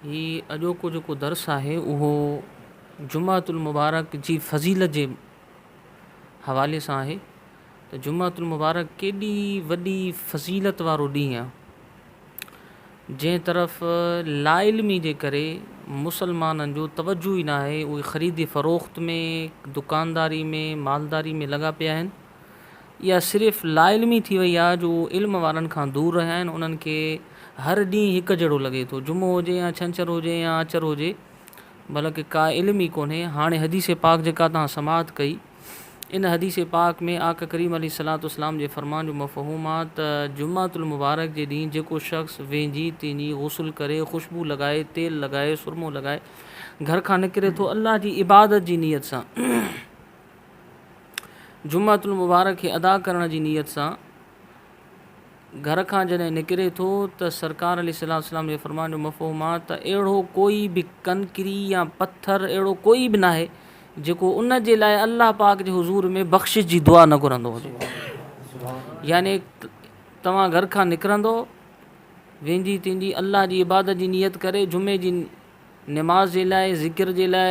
هي اڄوڪو جيڪو درس آهي اهو جمعة المبارڪ جي فضيلت جي حوالي سان آهي ته جمعة المبارڪ ڪيڏي وڏي فضيلت وارو ڏينهن آهي جنهن طرف لا علمي جي ڪري مسلمانن جو توجه ئي ناهي اهي خريد فروخت ۾ دڪانداري ۾ مالداري ۾ لڳا پيا آهن اها صرف لاعلمي ٿي وئي آهي جو اهي علم وارن کان دور رهيا آهن انهن کي هر ڏينهن هڪ جهڙو لڳي ٿو جمعو هجي يا ڇنڇر هجي يا آچر هجي بلڪ ڪا علم ئي ڪونهي هاڻي حديث پاڪ جيڪا توهان سماعت ڪئي ان حديث پاڪ ۾ آقا ڪريم عليه الصلوة والسلام جي فرمان جو مفهوم آ ته جمعة المبارڪ جي ڏينهن جيڪو شخص وينجهي تينجهي غسل ڪري خوشبو لڳائي تيل لڳائي سرمو لڳائي گهر کان نڪري ٿو الله جي عبادت جي نيت سان جمعة المبارڪ کي ادا ڪرڻ جي نيت سان گهر کان جڏهن نڪري ٿو ته سرڪار عليه الصلوة والسلام جي فرمان جو مفهوم آهي ته اهڙو ڪوئي به ڪنڪري يا پٿر اهڙو ڪوئي به ناهي جيڪو ان جي لاء الله پاڪ جي حضور ۾ بخشش جي دعا نه گهرندو هجي يعني توهان گهر کان نڪرندو ويندي تيندي الله جي عبادت جي نيت ڪري جمعي جي نماز جي لاء ذڪر جي لاء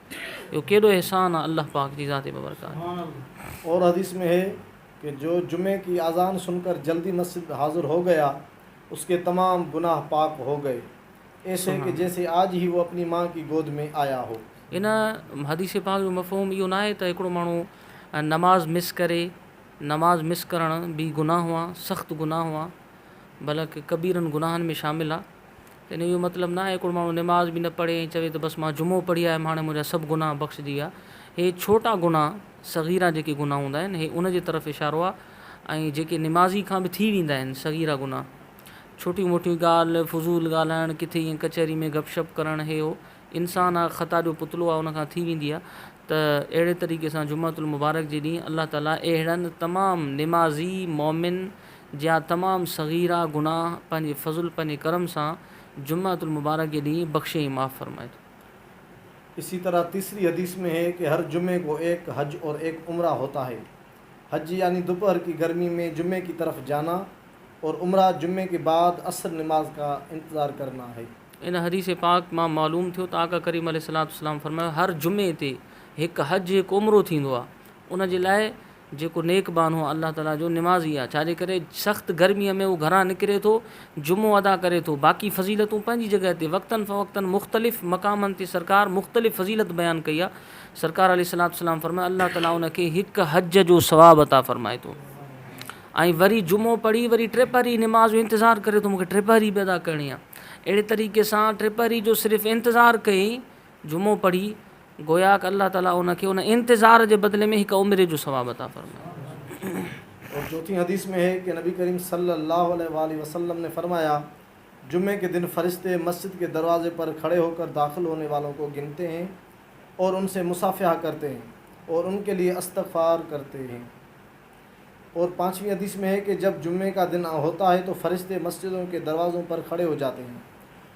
اهو ڪيڏو احسان آ الله پاڪ جي ذات ببرڪات. اور حديث مين هي ڪي جو جمعي ڪي آذان سن ڪر جلدي مسجد مين حاضر هو گيا اس ڪي تمام گناه پاڪ هو گئي ايسي ڪي جيسي آج هي وو اپني مان ڪي گود مين آيا هو. ان حديث پاڪ جو مفهوم اهو ناهي ته هڪڙو ماڻهو نماز مس ڪري، نماز مس ڪرڻ به گناهه آ، سخت گناهه آ، بلڪ ڪبيرن گناهن ۾ شامل آ. يعني اهو مطلب نه آهي ڪو ماڻهو نماز به نه پڙهي ۽ چوي ته بس مان جمعو پڙهي آيم هاڻي منهنجا سڀ گناهه بخشجي ويا. هي ڇوٽا گناهه، صغيره جيڪي گناهه هوندا آهن هي ان جي طرف اشارو آهي ۽ جيڪي نمازي کان به ٿي ويندا آهن صغيره گناهه. ڇوٽيون موٽيون ڳالهه، فضول ڳالهائڻ، ڪٿي ائين ڪچهري ۾ گپ شپ ڪرڻ هي هو. انسان آهي خطا جو پتلو آهي ان کان ٿي ويندي آهي ته اهڙي طريقي سان جمعة المبارڪ جي ڏينهن الله تعالي اهڙن تمام نمازي مؤمن جا تمام صغيره گناهه پنهنجي فضل پنهنجي ڪرم سان جمعة المبارڪ جي ڏينهن بخشي ۽ معاف فرمائي ٿو. اسي طرح تيسري حديث ۾ هي ڪي هر جمعي ڪو ايڪ حج اور ايڪ عمره هوتا هي حج يعني دوپهر ڪي گرمي مين جمعي ڪي طرف جانا اور عمره جمعي ڪي بعد عصر نماز ڪا انتظار ڪرنا هي. ان حديث پاڪ مان معلوم ٿيو ته آقا ڪريم عليه الصلوة والسلام فرمايو هر جمعي تي هڪ حج هڪ عمرو ٿيندو آهي ان جي لاء جيڪو نيڪ ٻانهو الله تعاليٰ جو نمازي آهي، ڇا جي ڪري سخت گرميء ۾ هو گهران نڪري ٿو، جمعو ادا ڪري ٿو، باقي فضيلتون پنهنجي جڳهه تي، وقتاً فوقتاً مختلف مقامن تي سرڪار مختلف فضيلت بيان ڪئي آهي، سرڪار عليه الصلوة والسلام فرمايو، الله تعاليٰ ان کي هڪ حج جو ثواب عطا فرمائي ٿو ۽ وري جمعو پڙهي وري ٽي پهري نماز جو انتظار ڪري ٿو، مون کي ٽي پهري به ادا ڪرڻي آهي، اهڙي طريقي سان ٽي پهري جو صرف انتظار ڪئي جمعو پڙهي، گويا ڪه الله تعاليٰ ان کي ان انتظار جي بدلي ۾ هڪ عمري جو ثواب عطا فرمائي. اور چوٿين حديث ۾ هي ڪه نبي ڪريم صلّي اللّٰه عليه واٰله وسلّم ني فرمايا، جمعي ڪه دن فرشتي مسجد ڪه دروازي پر کڙي هو ڪر داخل هوني والون ڪو گنتي هين اور ان سي مصافحه ڪرتي هين اور ان ڪه ليه استغفار ڪرتي هين. اور پانچوين حديث ۾ هي ڪه جب جمعي ڪا دن هوتا هي تو فرشتي مسجدون ڪه دروازون پر کڙي هو جاتي هين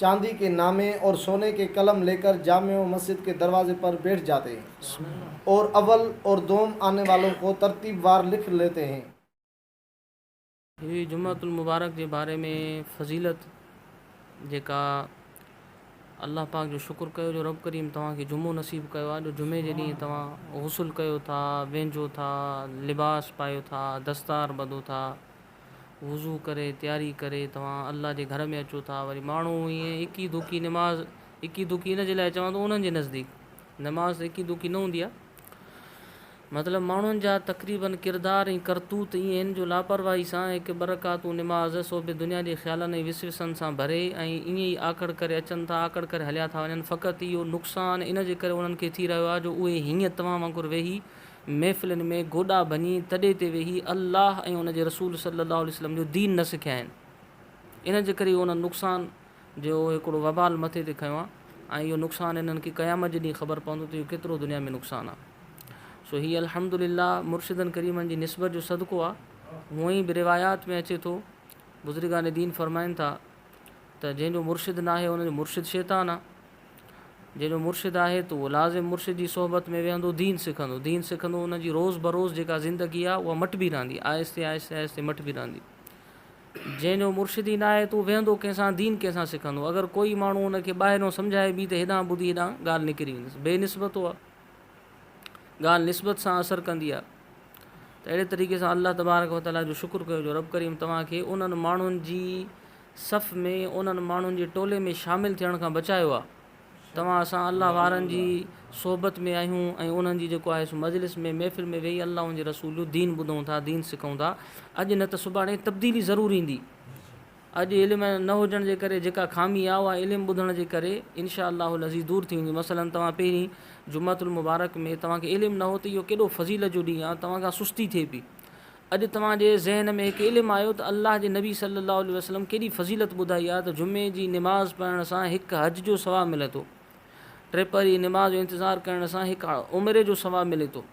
چاندي ڪي نامي اور سوني ڪي قلم ليڪر جامع مسجد ڪي دروازي پر بيٺ جاتي هين اور اول اور دوم آني والون ڪو ترتيب وار لک ليتي هين. هي جمعة المبارڪ جي باري ۾ فضيلت جيڪا الله پاڪ جو شڪر ڪيو جو رب ڪريم توهان کي جمعو نصيب ڪيو آهي جو جمعي جي ڏينهن توهان غسل ڪيو ٿا وينجهو ٿا لباس پايو ٿا دستار ٻڌو ٿا وضو ڪري تياري ڪري توهان الله جي گهر ۾ اچو ٿا وري ماڻهو ائين اڪي دڪي نماز اڪي دڪي ان جي لاء چوان ٿو انهن جي نزديڪ نماز ته اڪي دڪي نه هوندي آهي مطلب ماڻهن جا تقريبن ڪردار ۽ ڪرتوت ائين آهن جو لاپرواهي سان هڪ ٻه رڪعتون نماز سو به دنيا جي خيالن ۽ وسوسن سان ڀري ۽ ائين ئي آڪڙ ڪري اچن ٿا آڪڙ ڪري هليا ٿا وڃن فقط اهو نقصان ان جي ڪري انهن کي ٿي رهيو آهي جو اهي هيئن توهان وانگر ويهي محفلن ۾ گوڏا ڀڃي تڏي تي ويهي الله ۽ ان جي رسول صلي الله عليه وسلم جو دين نه سکيائين. انهن جي ڪري انهن نقصان جو هڪڙو وبال مٿي تي کنيو آهي ۽ اهو نقصان انهن کي قيامت جي ڏينهن خبر پوندو ته اهو ڪيترو دنيا ۾ نقصان آهي. سو هي الحمد لله مرشدن ڪريمن جي نسبت جو صدقو آهي. هونئن به روايات ۾ اچي ٿو، بزرگان دين فرمائن ٿا. ته جنهن جو مرشد ناهي ان جو مرشد شيطان آ، جنهن جو مرشد آهي ته اهو لازم مرشد جي صحبت ۾ ويهندو دين سکندو، دين سکندو ان جي روز بروز جيڪا زندگي آ اها مٽبي رهندي آهستي آهستي آهستي مٽبي رهندي، جنهن جو مرشد ئي ناهي ته اهو ويهندو ڪنهن سان دين ڪنهن سان سکندو اگر ڪوئي ماڻهو ان کي ٻاهريون سمجهائي به ته هيڏانهن ٻڌي هيڏانهن ڳالهه نڪري ويندس بي نسبتو آ. ڳالهه نسبت سان اثر ڪندي آهي ته اهڙي طريقي سان الله تبارڪ و تعاليٰ جو شڪر ڪيو جو رب ڪريم توهان کي انهن ماڻهن جي صف ۾ انهن ماڻهن جي ٽولي ۾ شامل ٿيڻ کان بچايو آهي توهان اسان الله وارن جي صحبت ۾ آهيون ۽ انهن جي جيڪو آهي سو مجلس ۾ محفل ۾ ويهي الله ان جي رسول جو دين ٻڌون ٿا دين سکون ٿا اڄ نه ته سڀاڻي تبديلي ضرور ايندي. اڄ علم نه هجڻ جي ڪري جيڪا خامي آ اها علم ٻڌڻ جي ڪري انشاء الله العزيز دور ٿي ويندي مثلا توهان پهرين جمعة المبارڪ ۾ توهان کي علم نه هو ته اهو ڪيڏو فضيلت جو ڏينهن آ توهان کان سستي ٿئي پئي اڄ توهان جي ذهن ۾ هڪ علم آيو ته الله جي نبي صلي الله عليه وسلم ڪيڏي فضيلت ٻڌائي آ ته جمعي جي نماز پڙهڻ سان هڪ حج جو ثواب ملي ٿو ٽي پهر جي نماز جو انتظار ڪرڻ سان هڪ عمري جو ثواب ملي ٿو.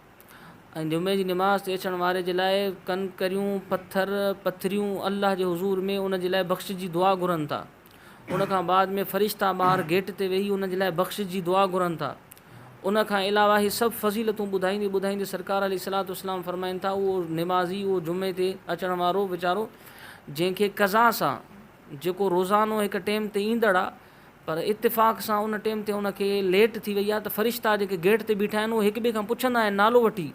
۽ جمعي جي نماز تي اچڻ واري جي لاء ڪنڪريون، پٿر، پٿريون الله جي حضور ۾ ان جي لاء بخشش جي دعا گهرن ٿا. ان کان بعد ۾ فرشتا ٻاهر گيٽ تي ويهي ان جي لاء بخشش جي دعا گهرن ٿا. ان کان علاوه هي سڀ فضيلتون ٻڌائيندي ٻڌائيندي سرڪار عليه الصلوة والسلام فرمائين ٿا اهو نمازي، اهو جمعي تي اچڻ وارو ويچارو جنهن کي قضا سان، جيڪو روزانو هڪ ٽيم تي ايندڙ آ پر اتفاق سان ان ٽيم تي ان کي ليٽ ٿي وئي آ ته فرشتا جيڪي گيٽ تي بيٺا آهن اهي هڪ ٻئي کان پڇندا آهن نالو وٺي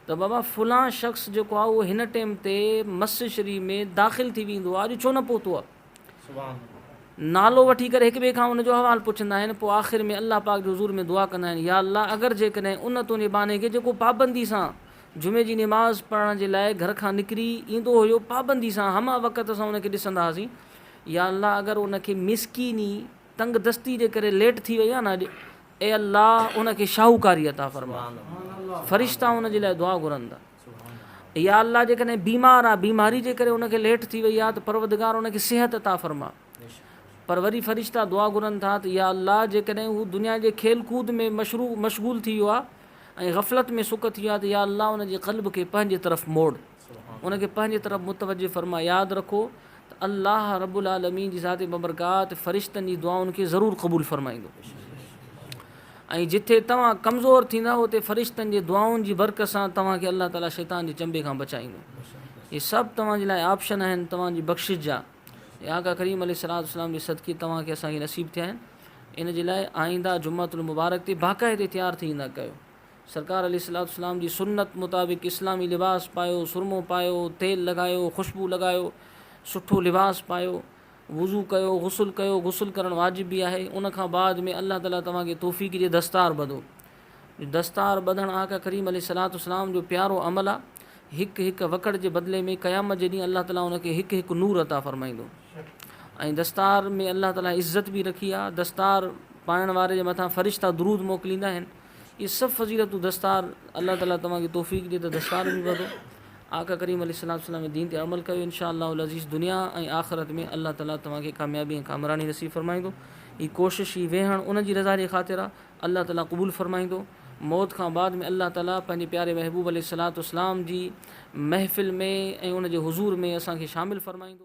ته بابا فلان شخص جيڪو آ اهو هن ٽيم تي مسجد شريف ۾ داخل ٿي ويندو آ اڄ ڇو نه پهتو آ نالو وٺي ڪري هڪ ٻئي کان ان جو احوال پڇندا آهن پوء آخر ۾ الله پاڪ جي حضور ۾ دعا ڪندا آهن يا الله اگر جيڪڏهن ان تنهنجي ٻانهي کي جيڪو پابندي سان جمعي جي نماز پڙهڻ جي لاء گهر کان نڪري ايندو هيو پابندي سان همه وقت اسان ان کي ڏسندا هئاسين يا الله اگر ان کي مسڪيني تنگ دستي جي ڪري ليٽ ٿي وئي آهي نه اڄ اي الله ان کي شاهوڪاري عطا فرما فرشتا ان جي لاء دعا گهرن ٿا يا الله جيڪڏهن بيمار آ بيماري جي ڪري ان کي ليٽ ٿي وئي آ ته پروردگار ان کي صحت عطا فرما پر وري فرشتا دعا گهرن ٿا ته يا الله جيڪڏهن هو دنيا جي کيل ڪود ۾ مشغول ٿي ويو آهي ۽ غفلت ۾ سڪ ٿي ويو آهي ته يا الله ان جي قلب کي پنهنجي طرف موڙ ان کي پنهنجي طرف متوجه فرما ياد رکو ته الله رب العالمين جي ذات ببرڪات فرشتن جي دعائن کي ضرور قبول فرمائيندو ۽ جتي توهان ڪمزور ٿيندا اتي فرشتن جي دعائن جي برڪت سان توهان کي الله تعالي شيطان جي چنبي کان بچائيندو هي سڀ توهان جي لاء آپشن آهن توهان جي بخشش جا اي آقا ڪريم عليه الصلوة والسلام جي صدقي توهان کي اسان کي نصيب ٿيا آهن ان جي لاء آئينده جمعة المبارڪ تي باقاعدي تيار ٿي ايندا ڪيو سرڪار عليه الصلوة والسلام جي سنت مطابق اسلامي لباس پايو سرمو پايو تيل لڳايو خوشبو لڳايو سٺو لباس پايو وضو ڪيو غسل ڪيو غسل ڪرڻ واجب به آهي ان کان بعد ۾ الله تعالي توهان کي توفيق ڏي دستار ٻڌو دستار ٻڌڻ آقا ڪريم عليه الصلواة والسلام جو پيارو عمل آ، هڪ هڪ وڪڙ جي بدلي ۾ قيامت جي ڏينهن الله تعالي ان کي هڪ هڪ نور عطا فرمائيندو ۽ دستار ۾ الله تعالي عزت به رکي آ، دستار پائڻ واري جي مٿان فرشتا درود موڪليندا آهن، اهي سڀ فضيلتون دستار الله تعالي توهان کي توفيق ڏي ته دستار به ٻڌو، آقا ڪريم عليه الصلواة والسلام جي دين تي عمل ڪيو ان شاء الله العزيز دنيا ۽ آخرت ۾ الله تعالي توهان کي ڪاميابي ۽ ڪامراني نصيب فرمائيندو، هي ڪوشش هي ويهڻ ان جي رضا جي خاطر آ. الله تعالي قبول فرمائيندو. موت کان بعد ۾ الله تعالي پنهنجي پياري محبوب عليه الصلوة والسلام جي محفل ۾ ۽ ان جي حضور ۾ اسان کي شامل فرمائيندو.